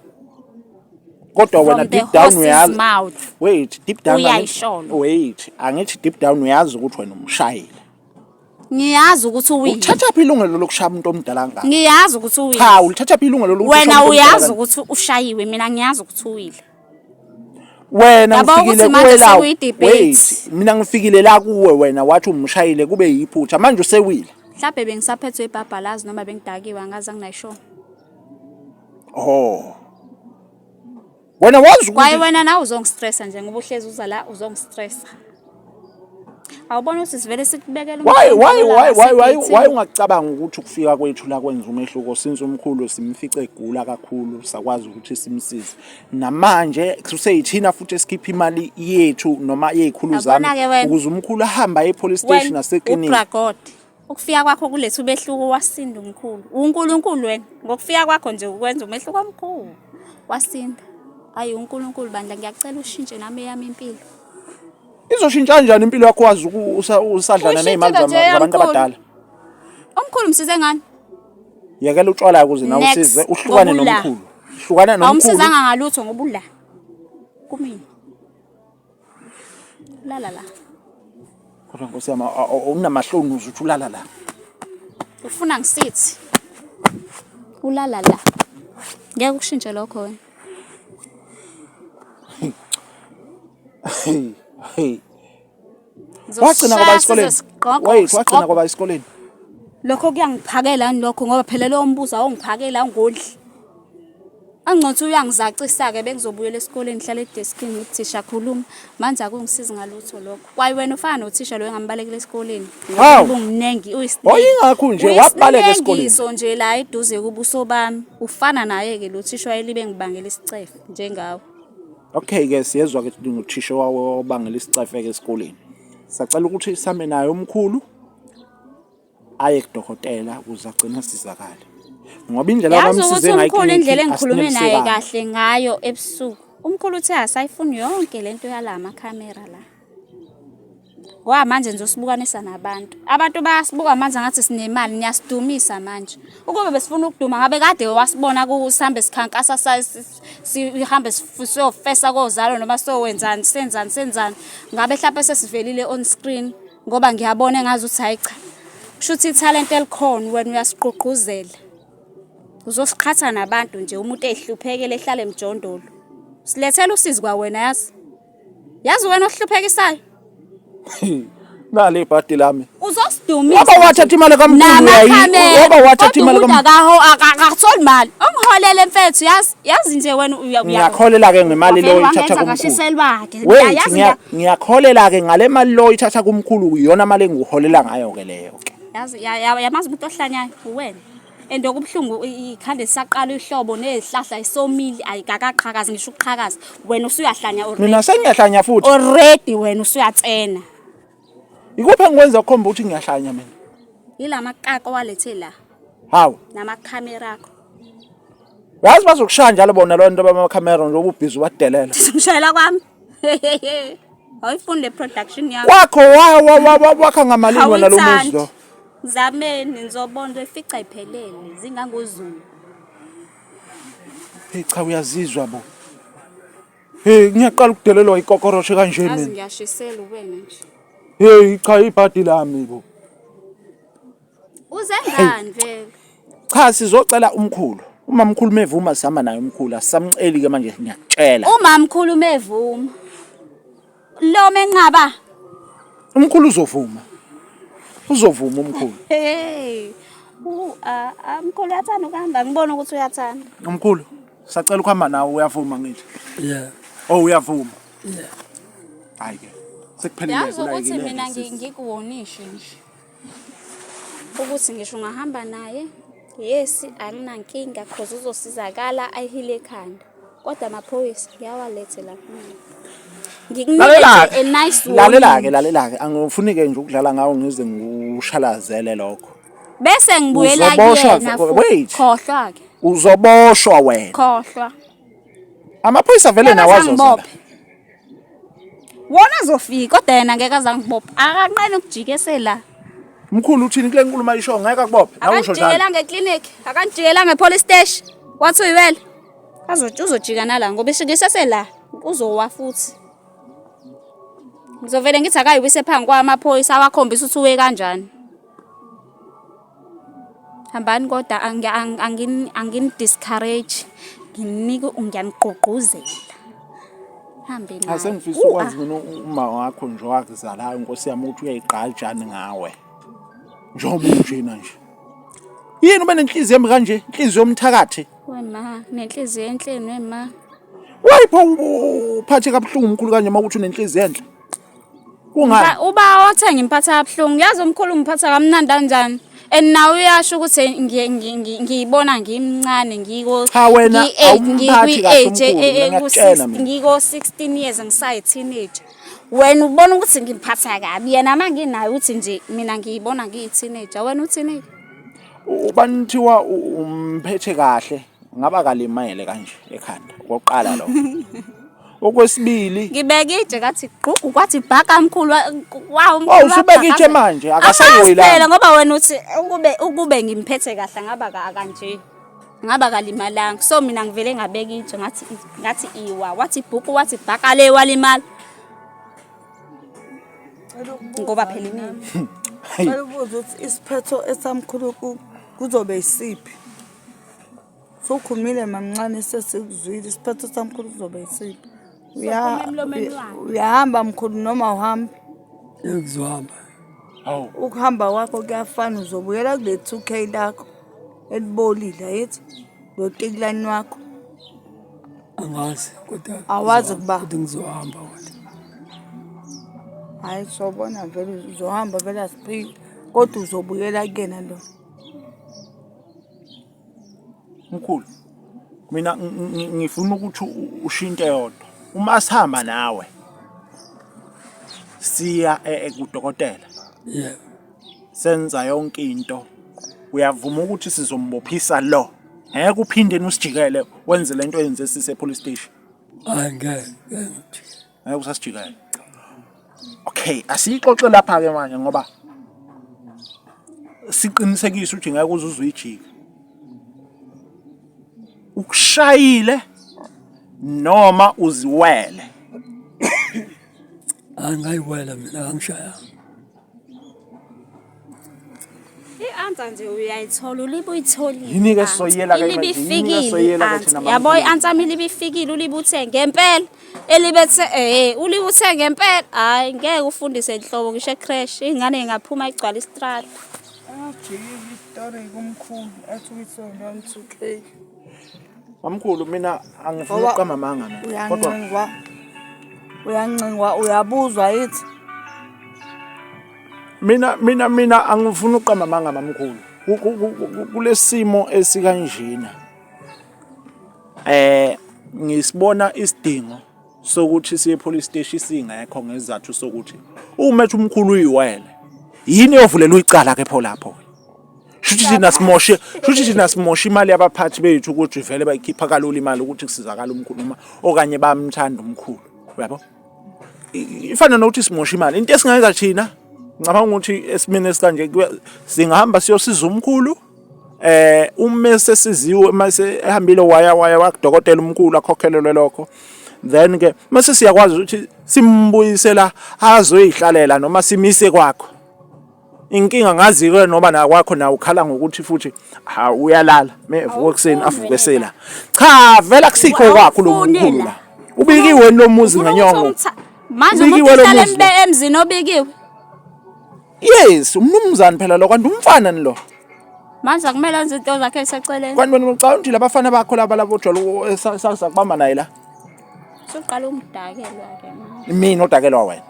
kodwa wena deep down uyazi wait deep down uyayisholo wait angithi deep down uyazi ukuthi wena umshayile ngiyazi ukuthi uwini uthatha phi ilungelo lokushaya umuntu omdala ngaka ngiyazi ukuthi uwini cha ulithatha phi ilungelo lokuthi wena uyazi ukuthi ushayiwe mina ngiyazi ukuthi uwile wena ngifikile kuwela wait mina ngifikile la kuwe wena wathi umshayile kube yiphutha manje usewile mhlawumbe bengisaphethwe ibhabhalazi noma bengidakiwe angazi anginayishona oh wena wazi kwaye ukuthi wena nawe uzongistressa nje ngoba uhlezi uza la uzongistressa awubona ukuthi sivele sikubekela why umqondo why la, why why why sikithini. why ungacabanga ukuthi ukufika kwethu la kwenza umehluko since umkhulu simfice egula kakhulu sakwazi ukuthi simsize namanje kuseyithina futhi esikhipha imali yethu noma yezikhulu zami Yabona-ke wena. ukuze umkhulu ahambe aye epolice station Wena, naseklinika ubragode Ukufika kwakho kuletha umehluko wasinda umkhulu. UNkulunkulu wena ngokufika kwakho nje ukwenza umehluko omkhulu. Wasinda. Hayi uNkulunkulu bandla ngiyacela ushintshe nami eyami impilo. Izoshintsha kanjani impilo yakho wazi usadlana nezimali zabantu abadala? Omkhulu msize ngani? Yekela utshwala ukuze nawe usize uhlukane nomkhulu. Hlukana nomkhulu. Awumsizanga ngalutho ngoba ula. Kumina. Lala la. Kodwa nkosi yami unamahloni uze uthi ulala la. Ufuna ngisithi. Ulala la. Ngeke ukushintshe lokho wena. Hey. Hey. Wagcina ngoba esikoleni. Wait, wagcina ngoba esikoleni. Lokho kuyangiphakela lokho ngoba phela lowo mbuzo awungiphakela awungondli. Angcothi uyangizacisa-ke bengizobuyela esikoleni ngihlale edeskini ngithi thisha khuluma manje akungisizi ngalutho lokho kwaye wena ufana nothisha loyo engambalekela esikoleni Hawu. ubunginingi Wayengakho nje, wabaleka esikoleni. uyisinekiso nje la eduze kubuso bami ufana naye-ke lo thisha wayelibe ngibangela isicefe njengawe Okay ke siyezwa ke nguthisha wawo obangela isicefeke esikoleni. Sacela ukuthi same naye omkhulu aye kudokotela ukuze agcine asizakale ngoba indlela yazi ukuthi umkhulu indlela engikhulume naye kahle ngayo ebusuku umkhulu uthe asayifuni yonke le nto yala makhamera la ngoba manje nje usibukanisa nabantu abantu bayasibuka manje ngathi sinemali niyasidumisa manje ukube besifuna ukuduma ngabe kade wasibona kusihambe sikhankasa sihambe siyofesa kozalo noma siyowenzani senzani senzani ngabe mhlawumpe sesivelile on screen ngoba ngiyabona engazi ukuthi hayi cha kusho ukuthi ithalente elikhona wena uyasigqugquzela uzosiqhatha nabantu nje umuntu ehluphekele ehlale emjondolo silethela usizi kwa wena yazi yazi wena ohluphekisayo nale ibhadi lami uzosidumisa waba wathatha imali kamkhulu yayi waba wathatha imali kamkhulu akaho akatholi imali omholele mfethu yazi yazi nje wena ngiyakholela ke ngemali lo ithatha kumkhulu wait ngiyakholela ke ngale mali lo ithatha kumkhulu iyona mali engiholela ngayo ke leyo ke yazi yamazi umuntu ohlanyayo uwena and okubuhlungu ikhanda lisaqala ihlobo nezihlahla isomile ayikakaqhakazi ngisho ukuqhakaza wena usuyahlanya already mina sengiyahlanya futhi already wena usuyatsena Ikuphi engikwenza kukhomba ukuthi ngiyahlanya mina? Yila makaka owalethe la. Hawu. Namakhamera akho. Yazi bazokushaya njalo bona lo nto bamakhamera nje ububhizi ubadelela. Ngishayela kwami. Awuyifuni le production yakho. Wakho wa wakha ngamalini wena lo muzi lo. Zameni ngizobona ifica iphelele zingangozulu. Hey cha uyazizwa bo. Hey ngiyaqala ukudelelwa ikokoroshe kanje mina. Azi ngiyashisela uwena nje. Hey cha ibhadi lami bo. Uze ngani vele? Cha sizocela umkhulu. Uma mkhulu mevuma sihamba naye umkhulu asamceli ke manje ngiyakutshela. Uma mkhulu mevuma. Lo menqaba. Umkhulu uzovuma. Uzovuma umkhulu. Hey. U a umkhulu uyathanda ukuhamba ngibona ukuthi uyathanda. Umkhulu sacela ukuhamba nawe uyavuma ngithi. Yeah. Oh uyavuma. Yeah. Hayi ke. Sekuphelile kula yini. Yazi ukuthi mina ngikuwonishe nje. ukuthi ngisho ungahamba naye yes anginankinga cause uzosizakala ayihile ekhanda kodwa amaphoyisa ngiyawalethe lapho ngikunike nice lalela-ke lalela-ke angifuni-ke nje ukudlala ngawo ngize ngikushalazele lokho bese ngibuyela kuyena khohlwa-ke uzoboshwa wena khohlwa amaphoyisa vele nawazoza wona azofika kodwa yena ngeke azangibopha akanqeni ukujikesela mkhulu uthini kule nkulumo ayisho ngeke akubophe nawe usho njalo akangijikelanga eclinic akangijikelanga epolice station wathi uyiwele azothi uzojika nala ngoba ishikisese la uzowa futhi ngizovele ngithi akayiwise phambi kwamaphoyisa awakhombisa ukuthi uwe kanjani hambani kodwa angini-discourage nginike ngiyanigqugquzela hambe naye asengifisa ukwazi mina uma wakho nje wakuzalayo nkosi yami ukuthi uyayigqajani ngawe njengoba unjena nje yini ube nenhliziyo embi kanje inhliziyo yomthakathi wema nenhliziyo enhleni wema wayipho uphathe kabuhlungu umkhulu kanje uma ukuthi unenhliziyo enhle kungani uba othenga imphatha yabuhlungu yazi umkhulu ngiphatha kamnandi kanjani and nawe uyasho ukuthi ngiyibona ngimncane ngiko-16 years ngisayi-teenage wena ubona ukuthi ngimphatha kabi yena ma nginayo ukuthi nje mina ngiyibona ngiyi-teenager wena u-teenager ubani kuthiwa umphethe kahle ngaba kalimele kanje ekhanda kokuqala lo okwesibili ngibeke itshe kathi gqugu kwathi bhaka mkhulu wawu mkhulu oh, usubeka itshe manje akasayoyi la ngoba wena uthi ukube ukube ngimphethe kahle ngaba kanje ngaba kalimalanga so mina ngivele ngabeka itshe ngathi ngathi iwa wathi bhuku wathi bhaka le walimala ngoba phela imini Ngicela ukuthi isiphetho esamkhulu kuzobe isiphi? Sokhumile mamncane sesikuzwile isiphetho samkhulu kuzobe isiphi. Uyahamba mkhulu noma uhambe. Ngizohamba. Hawu. Ukuhamba kwakho kuyafana uzobuyela kule 2K lakho elibolile yithi lo tikulani wakho. Angazi kodwa awazi ukuba kodwa ngizohamba kodwa. Hayi sobona vele uzohamba vele asiphile kodwa uzobuyela kuyena lo. mkhulu mina ngifuna ukuthi ushinte yodwa uma sihamba nawe siya e-, e-, kudokotela yeah senza yonke into uyavuma ukuthi sizombophisa lo ngeke uphinde usijikele wenze lento yenze sise police station angeke ngeke usasijikela okay asiyixoxe lapha ke manje ngoba siqinisekise ukuthi ngeke uze uzuyijike ukushayile noma uziwele angayiwela mina angishayanga I-answer nje uyayithola ulibe uyitholile. Yini-ke i-answer. soyela-ke Ilibe manje? Yini-ke ifikile soyela-ke i-answer. thina Yabo maNkulunkulu? i-answer yami ilibe ifikile ulibe uthe ngempela. Elibe the eh ulibe uthe ngempela. Hayi ngeke ufundise inhlobo ngisho ecrash ingane ingaphuma igcwala istrata. Ajike istory kumkhulu athi uyisonto angisukeki. Mamkhulu mina angifuni Ngoba- ukuqamba amanga mina. Kodwa uyancingwa uyancingwa uyabuzwa yithi mina mina mina angifuni ukuqamba amanga mamkhulu. Ku- ku- ku- ku- Kulesimo esikanjena. Eh ngisibona isidingo sokuthi siye police station singekho ngezathu sokuthi umethi umkhulu uyiwele yini yovulelwa icala ke pho lapho shuthi thina simoshe shuthi thina simoshe imali yabaphathi bethu ukuthi vele bayikhipha kalula imali ukuthi kusizakala umkhulu noma okanye bamthanda umkhulu uyabo ifana nokuthi simoshe imali into esingayenza thina ngicabanga ukuthi esimene sikanje singahamba siyosiza umkhulu eh uma esesiziwe uma ehambile waya waya wakudokotela umkhulu akhokhelelwe lokho then ke mase siyakwazi ukuthi simbuyisela azoyihlalela noma simise kwakho inkinga ngazi ke noma na kwakho na ukhala ngokuthi futhi ha uyalala mevuka ekseni avuke sela cha vela kusikho kwakho lo mkhulu la ubikiwe lo muzi ngenyongo manje umuntu emzini obikiwe Yes, umnumzane phela lo kanti umfana ni lo. Manje akumele enze into zakhe eseceleni. Kanti wena ucabanga ukuthi labafana bakho laba labo jolo esasa kubamba naye la. Suqala umdakelwa ke manje. Mina odakelwa wena.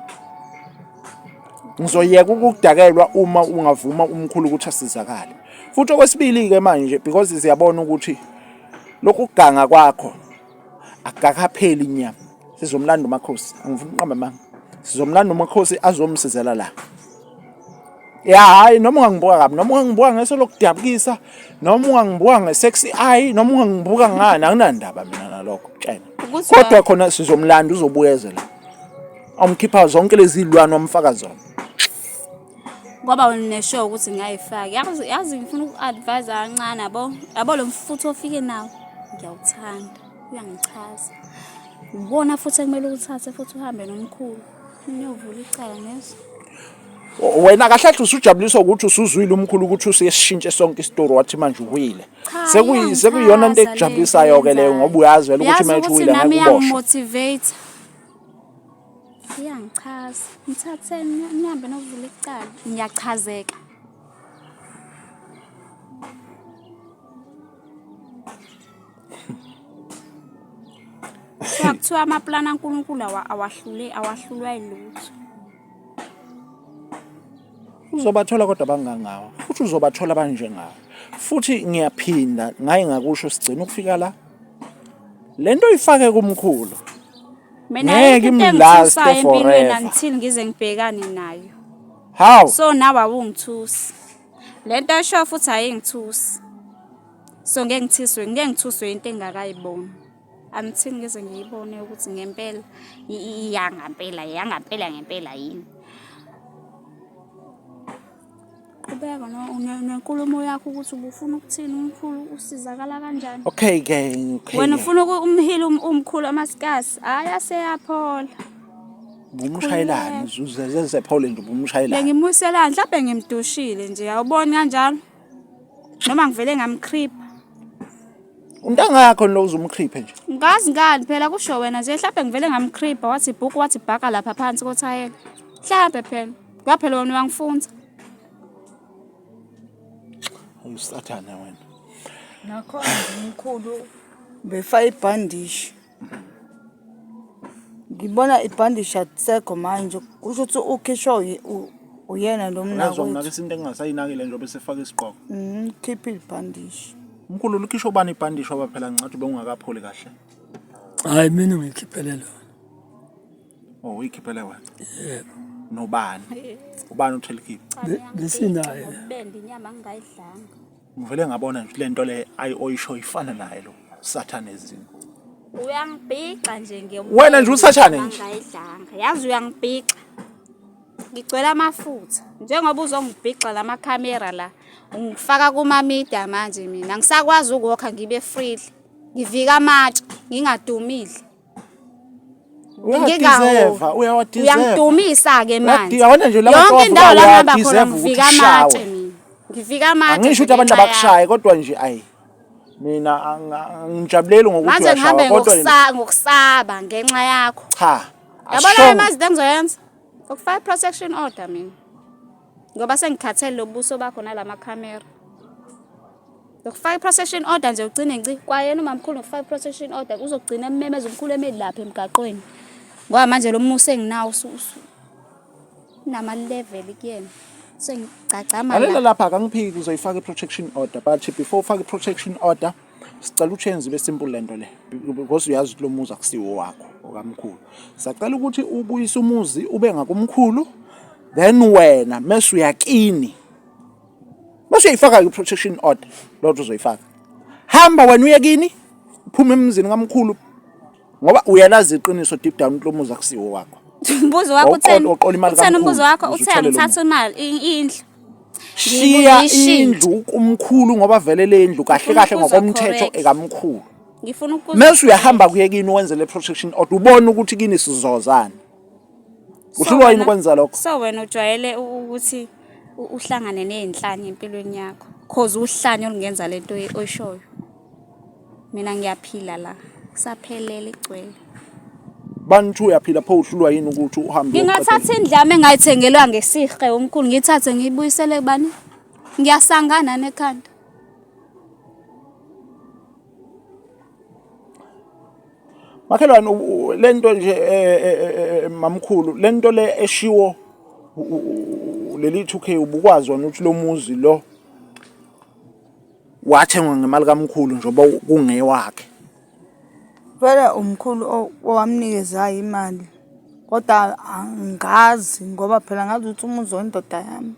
Ngizoyeka ukukudakelwa uma ungavuma umkhulu ukuthi asizakale. Futhi okwesibili ke manje because siyabona ukuthi lokhu kuganga kwakho akakapheli inyama sizomlanda umakhosi angifuni uqamba manga sizomlanda umakhosi azomsizela la ya hayi noma ungangibuka kabi noma ungangibuka ngeso lokudabukisa noma ungangibuka nge-sexy eye noma ungangibuka ngani anginandaba mina nalokho tshena kodwa khona sizomlanda uzobuyezela omkhipha zonke lezi lwane omfaka zona kwaba neshow ukuthi ngayifake yazi yazi ngifuna uku-advise kancane yabo yabo lo mfutho ofike nawo ngiyawuthanda uyangichaza ubona futhi ekumele ukuthathe futhi uhambe nomkhulu niyovula icala nezo wena kahle kahle usujabuliswa ukuthi usuzwile umkhulu ukuthi usesishintshe sonke isitori wathi manje uwile sekuyi sekuyona into ekujabulisayo ke leyo ngoba uyazi vele ukuthi manje uwile ngeke uboshwe Iyangichaza. Ngithatheni nihambe novula icala. Ngiyachazeka. Kuthiwa kuthiwa amaplani aNkulunkulu awa- awahlule awahlulwa yilutho. uzobathola kodwa bangangawe futhi uzobathola banjengawe futhi ngiyaphinda ngaye ngakusho sigcina ukufika la le nto uyifake kumkhulu mina Ngeke ayikho into imlaste engithusayo empilweni forever. until ngize ngibhekane nayo How? so nawe awungithusi le nto esho futhi ayingithusi so ngeke ngithiswe ngeke ngithuswe into engakayiboni until ngize ngiyibone ukuthi ngempela i- i- iyangampela iyangampela ngempela yini Qhubeka nenkulumo yakho ukuthi ubufuna ukuthini umkhulu usizakala kanjani. Okay ke. Wena ufuna umhile um-, umkhulu amasikasi. Hayi aseyaphola. Bumshayelani uzeze zephole nje bumshayelani. Bengimuselani mhlawumbe ngimdushile nje awuboni kanjalo. Noma ngivele ngamcreep. Untanga yakho lo uzumcreepe nje. Ngazi ngani phela kusho wena nje mhlawumbe ngivele ngamcreep wathi bhuku wathi bhaka lapha phansi kothayela. Mhlawumbe phela. Cha phela wena uyangifunza. Usathane wena. Nakho mkhulu befa ibhandishi. Ngibona ibhandishi atsekho manje kusho ukuthi ukhishwa uyena lo mnakho. Ngizonginaka isinto engingasayinakile njengoba esefaka isiqoko. Mhm, khipha ibhandishi. Mkhulu lukhishwa ubani ibhandishi oba phela ngicathi ubengungakapholi kahle. Hayi mina ngikhiphele lona. Oh, uyikhiphele wena. Yebo. Nobani? Ubani uthela ikhipha? Besinaye. Ubende inyama ngingayidlanga. Ngivele ngabona nje lento le ayi oyisho ifana naye lo sathane ezini. Uyangibhixa nje nge. Wena nje usathane nje. Ngingayidlanga. Yazi uyangibhixa. Ngigcwele amafutha. Njengoba uzongibhixa lama camera la. Ungifaka kuma media manje mina. Ngisakwazi ukuwokha ngibe freely. Ngivika amatshe ngingadumile. Uyadizeva, uyawadizeva. Uyangidumisa ke manje. Uyabona nje laba Yonke indawo la ngihamba khona ngivika amatshe mina. Ngivika amatshe. Angisho ukuthi abantu abakushaye kodwa nje ayi. Mina angijabuleli ngokuthi uyashawa kodwa manje ngihambe ngokusaba ngenxa yakho. Cha. Yabona imazi engizoyenza. Ukufaka protection order mina. Ngoba sengikhathele lobuso bakho nalamakhamera. Ngokufaka i-protection order nje ugcine nci kwayena umamkhulu ngokufaka i-protection order uzogcina ememeza umkhulu emeli lapha emgaqweni ngoba manje lo musa enginawo unama-level kuyena sengigcagcamalalela lapha akangiphiki kuzoyifaka i-protection order but before ufake i-protection order sicela uchenze ibe simple le nto le because uyazi ukuthi lo muzi akusiwo wakho okamkhulu sacela ukuthi ubuyise umuzi ube ngakumkhulu then wena mese uyakini Mase uyifaka i-protection order lodwa uzoyifaka. Hamba wena uye kini, phuma emzini kamkhulu ngoba uyalazi iqiniso deep down ukuthi lo muzi akusiwo wakho. Mbuzo wakho utheni? Utheni umbuzo wakho? Uthe angithatha imali indlu. Shiya indlu kumkhulu ngoba vele le ndlu kahle kahle ngokomthetho ekamkhulu. Ngifuna ukubuza. Mase uyahamba kuye kini wenze le protection order ubone ukuthi kini sizozana. uhlulwa yini ukwenza lokho so wena ujwayele ukuthi uhlangane nezinhlanya empilweni yakho cause uhlanya olungenza lento oyishoyo mina ngiyaphila la kusaphelele igcwele bantu uyaphila pho uhlulwa yini ukuthi uhambe ngingathatha indlame engayithengelwa ngesihle umkhulu ngithathe ngiyibuyisele kubani ngiyasangana nekhanda Makhelwane lento nje eh, eh, eh, mamkhulu lento le eshiwo leli 2K ubukwazi wona ukuthi lo muzi lo wathengwa ngemali kamkhulu njengoba kungewakhe. Vele umkhulu owamnikezayo imali kodwa angazi ngoba phela ngazi ukuthi umuzi wendoda yami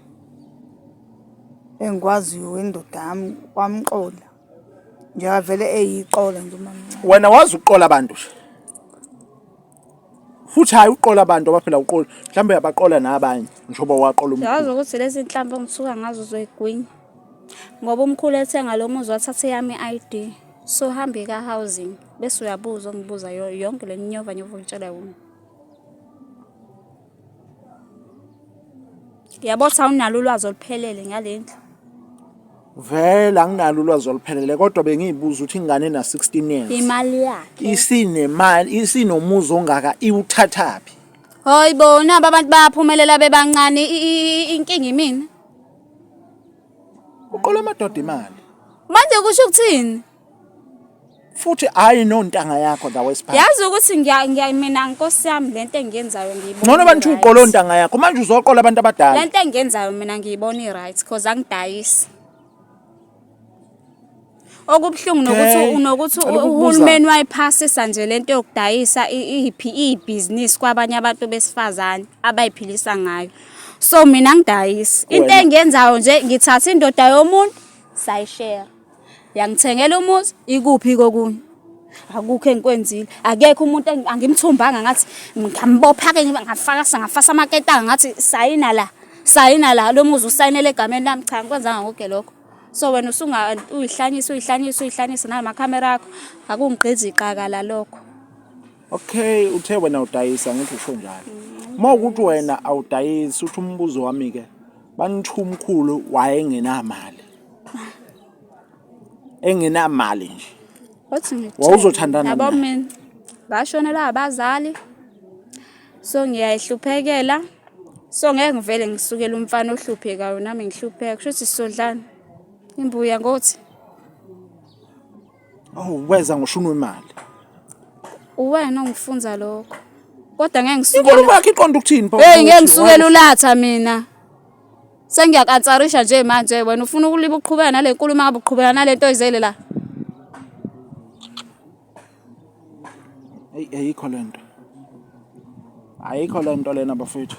engikwaziyo wendoda yami wamqola. Ngiyavele eyiqola nje umamncane. Wena wazi ukuqola abantu nje. Futhi hayi uqola abantu abaphila uqola. Mhlawumbe uyabaqola nabanye njengoba waqola umkhulu. Yazi ukuthi lezi nhlampe ngisuka ngazo uzoyigwinya. Ngoba umkhulu ethenga lo muzi wathatha eyami ID. So hambe ka housing bese uyabuza ongibuza yonke le nyova nyova ungitshela yona. Yabo sawunalo ulwazi oluphelele ngale ndlu. Vele anginalo ulwazi oluphelele kodwa bengiyibuza ukuthi ingane ena 16 years. Imali yakhe. Isinemali, isinomuzi ongaka iwuthathaphi. Hoyi bo nabo abantu bayaphumelela bebancane i- i- i- inkinga imina. Uqola amadoda imali. Manje kusho ukuthini? futhi hayi nontanga yakho la wesiphathi yazi ukuthi ngiya ngiya mina nkosi yami lento engiyenzayo ngiyibona ngcono abantu uqola ontanga yakho manje uzoqola abantu abadala lento engiyenzayo mina ngiyibona i-right because angidayisi okubuhlungu nokuthi nokuthi uhulumeni wayiphasisa nje lento yokudayisa iphi ibhizinisi kwabanye abantu besifazane abayiphilisa ngayo so mina ngidayisi into engiyenzayo nje ngithatha indoda yomuntu sayishare Yangithengela umuzi ikuphi kokunye. Akukho engikwenzile. Akekho umuntu angimthumbanga ngathi ngambopha ke ngafaka ngafasa amaketanga ngathi sayina la. Sayina la lo muzi usayinele egameni lami cha ngikwenzanga konke lokho. So wena usunga uyihlanyisa uyihlanyisa uyihlanyisa nala makhamera akho akungigqizi iqaka la lokho. Okay uthe wena udayisa ngithi usho njalo. Uma ukuthi wena awudayisi uthi umbuzo wami ke Banithu umkhulu wayengenamali. Engenamali nje. Wathi ngithe. Wawuzothandana Yabo naye? mina ngashonelwa abazali. So ngiyayihluphekela. So ngeke ngivele ngisukele umfana ohluphekayo nami ngihlupheka. Kusho ukuthi sodlana. Imbuya ngothi Oh, weza ngoshuni wemali. Uwena ongifunza lokho. Kodwa ngeke ngisukele. Inkulumo yakhe iqonda ukuthini pho? Hey ngeke ngisukele ulatha mina. Sengiyakansarisha nje manje wena ufuna ukuliba uqhubeka nale nkulumo ngabe uqhubeka nale nto oyizele la. eyi ayikho le nto ayikho le nto lena bafethu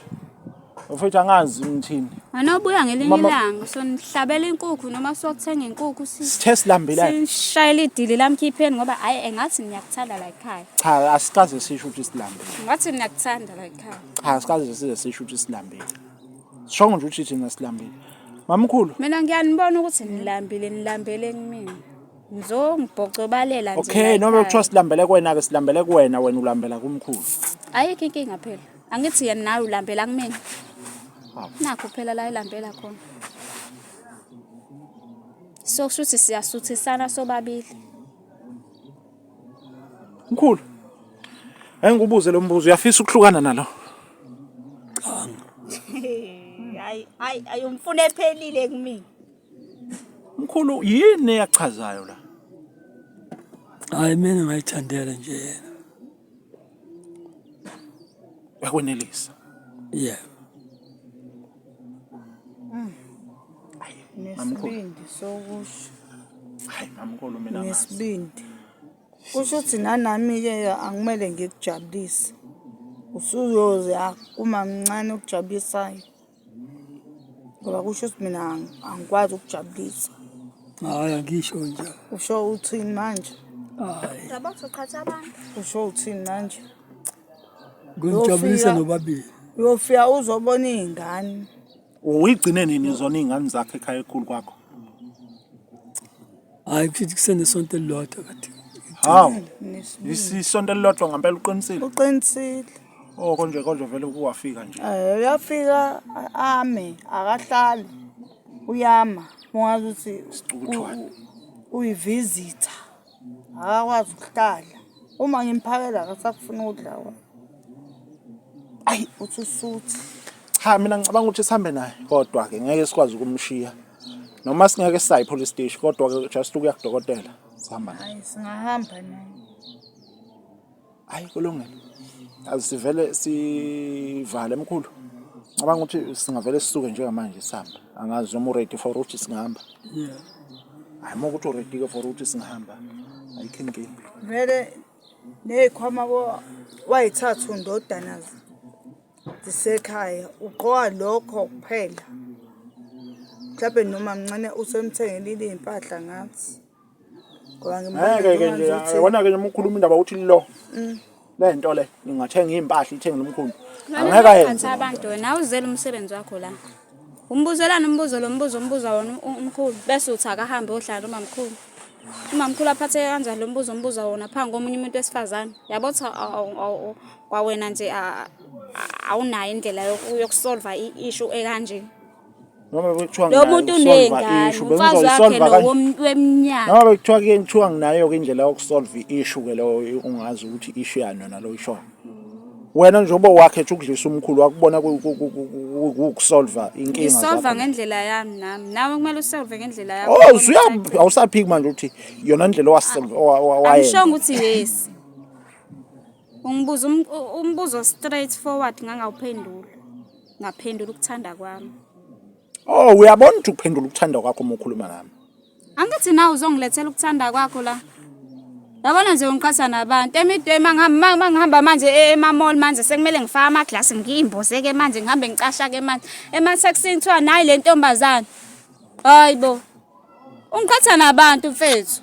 bafethu angazi ngithini anobuya ngelinye Mama- ilanga sonihlabela inkukhu noma sokuthenga inkukhu si- sithe silambelane sishayela idili lamkhipheni ngoba hhayi engathi niyakuthanda la yikhaya cha asikaze sisho ukuthi silambile ngathi niyakuthanda la yikhaya cha asikaze size sisho ukuthi silambile sishongo nje ukuthi thina silambile mamkhulu mina ngiyanibona ukuthi nilambile nilambele kumina ngizongibhocobalela nje okay noma kuthiwa silambele kuwena ke silambele kuwena wena ulambela kumkhulu ayikho inkinga phela angithi yena nawe ulambela kumina nakho phela la ilambela khona so kusho ukuthi siyasuthisana sobabili mkhulu engikubuze lo mbuzo uyafisa ukuhlukana nalo hayi hayi ayomfuna ephelile kumina Mkhulu yini eyachazayo la? Hayi mina ngayithandela nje yena. Yakwenelisa. Yeah. Nesibindi sokusho. Hayi mamkhulu mina ngazi. Nesibindi. Kusho ukuthi nanami ke angimele ngikujabulise. Usuyoze akuma mncane okujabulisayo. ngoba kusho ukuthi mina angikwazi ukujabulisa hayi angisho nje usho uthini manje hayi yabo soqhatha abantu usho uthini manje ngijabulisa nobabili uyofika uzobona izingane uyigcine nini zona izingane zakhe ekhaya ekhulu kwakho hayi kusho ukuthi kusenesonto elilodwa kade hawu isisonto elilodwa ngempela uqinisile uqinisile Oh konje konje vele uwafika nje. Eh uyafika ame akahlali. Uyama ungazi ukuthi Sicukuthwane. u- uyivisitha. Akakwazi ukuhlala. Uma ngimphakela akasakufuna ukudla wena. Ayi uthi usuthi. Cha mina ngicabanga ukuthi sihambe naye kodwa ke ngeke sikwazi ukumshiya. Noma singeke sisayi police station kodwa ke just ukuya kudokotela sihamba naye. Hayi singahamba naye. hayi kulungile azisivele sivale mkhulu cabanga ukuthi singavele sisuke njengamanje sihamba angazi noma uready for ukuthi singahamba hayi uma ukuthi uready-ke for ukuthi singahamba ayikho inkinga vele ney'khwama wayithathu ndodana zisekhaya ugqoka lokho kuphela mhlawumbe noma mncane usemthengele iy'mpahla ngathi Ngoba ngimbuza ngeke ke nje ngibuza ukuthi- wona ke nje mukhuluma indaba uthi lo Mm. le nto le ingathenga impahla ithenge lomkhulu angeke Phansi ayenze abantu wena awuzele umsebenzi wakho la umbuzelani umbuzo lo mbuzo umbuza wona u- umkhulu bese uthi akahambe ohlala umamkhulu umamkhulu aphatheke kanjani lo mbuzo umbuza wona phambi komunye umuntu wesifazane yabo ukuthi awu- awu- awu- kwawena nje a- a- awunayo indlela yoku- yokusolva i-ishu ekanje noma bekuthiwa lo muntu uney'ngane umfazi wakhe lowo weminyaka noma bekuthiwa ke kuthiwa nginayo-ke indlela yokusolve i-issue ke leyo ungazi ukuthi i-issue yani yona lo ishoyo wena njengoba wakhe ethi ukudlisa umkhulu wakubona ukusolva inkinga isolva ngendlela yami nami nawe kumele usolve ngendlela yakho oh usuya awusaphiki manje ukuthi yona indlela owasolve owayenza awushongo ukuthi yes Ungibuza um, umbuzo straight forward ngangawuphendula. Ngaphendula ukuthanda kwami. Oh, uyabona ukuthi ukuphendula ukuthanda kwakho uma ukhuluma ngami. Angithi na uzongilethela ukuthanda kwakho la. Yabona nje ungiqhatha nabantu emidwema ngihamba ngihamba manje e, emamall manje sekumele ngifake ama glass ngiyimboze ke manje ngihambe ngicasha ke manje ema taxini kuthiwa nayi le ntombazane. Hayibo. Ungiqhatha nabantu mfethu.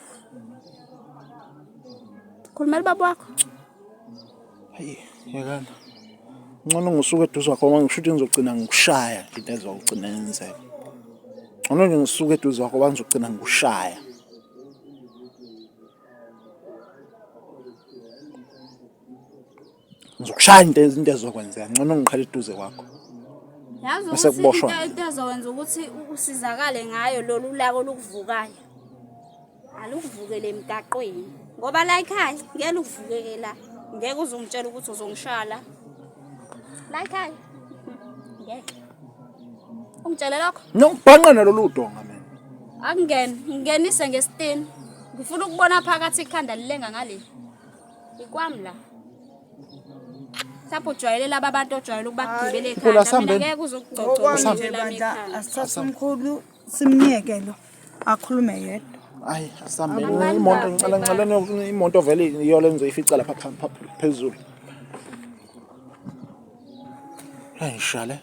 Khulumela ubaba wakho. Hayi, yekana. Ngcono ngisuke eduze kwakho ngoba ngisho ukuthi ngizogcina ngikushaya into ezogcina yenzeka. Ngcono nje ngisuke eduze kwakho ngoba ngizogcina ngikushaya. ngizokushaya into into ezokwenzeka ngcono ngiqhele eduze kwakho yazi Bese ukuthi kuboshwa. into- into ezokwenza ukuthi u- usizakale ngayo lolu laka olukuvukayo alukuvukele emgaqweni ngoba la ekhaya ngeke lukuvukeke la ngeke uzongitshela ukuthi uzongishaya la la ekhaya ngeke ungitshele lokho nokubhanqa nalolu donga mina akungene ngingenise ngesitini ngifuna ukubona phakathi ikhanda lilenga ngaleli ikwami la lapho ujwayele laba bantu ojwayele ukubagibela ekhanda mina ngeke uzokugcogcoza nje lami ekhanda asithathe umkhulu simnyeke lo akhulume yedwa ayi asambe imoto ngicela ngicela imoto vele iyo le ngizoyifica lapha phezulu hayi shale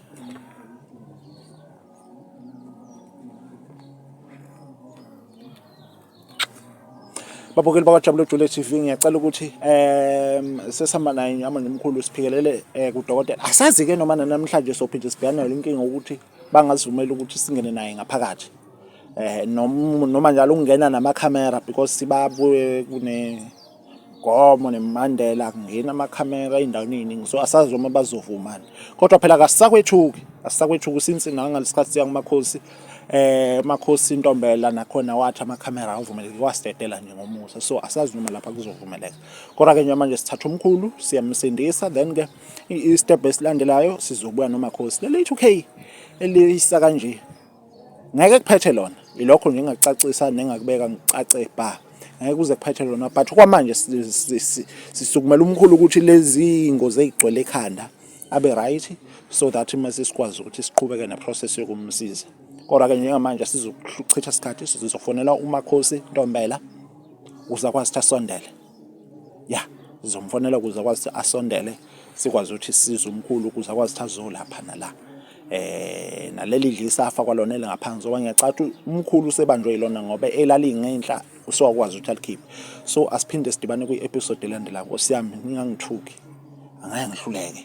babukeli bakwaJabule Jule TV ngiyacela ukuthi um sesihamba naye nyama nomkhulu siphikelele um kudokotela asazi-ke noma nanamhlanje sophinde sibhekane nale nkinga ukuthi bangazivumeli ukuthi singene naye ngaphakathi um noma njalo ukungena namakhamera because sibabuye kune Gomo neMandela kungena amakhamera endaweni eyiningi so asazi uma bazovumana kodwa phela kasisakwethuki asisakwethuki since nangalesikhathi siya kumakhosi eh makhosi intombela nakhona wathi amakhamera avumeleke wasidedela nje ngomusa so asazi noma lapha kuzovumeleka kodwa ke manje sithatha umkhulu siyamsindisa then ke i step esilandelayo sizobuya nomakhosi leli 2k eliyisa kanje Ngeke kuphethe lona ilokho nje engakucacisa nengakubeka ngicace bha ngeke kuze kuphethe lona but kwamanje sisukumela umkhulu ukuthi lezi ngozi ezigcwele ekhanda abe right so that mase sikwazi ukuthi siqhubeke neprocess yokumsiza kodwa ke njengamanje sizochitha isikhathi sizofonela umakhosi ntombela uzakwazi ukuthi asondele ya ngizomfonela ukuze akwazi ukuthi asondele sikwazi ukuthi size umkhulu ukuze akwazi ukuthi azolapha nala eh naleli dlisafa kwalona elingaphansi ngoba ngiyacatha umkhulu usebanjwe yilona ngoba elalingenhla usewakwazi ukuthi alikhiphe so asiphinde sidibane kwi-episode elandelayo nkosi yami ningangithuki angeke ngihluleke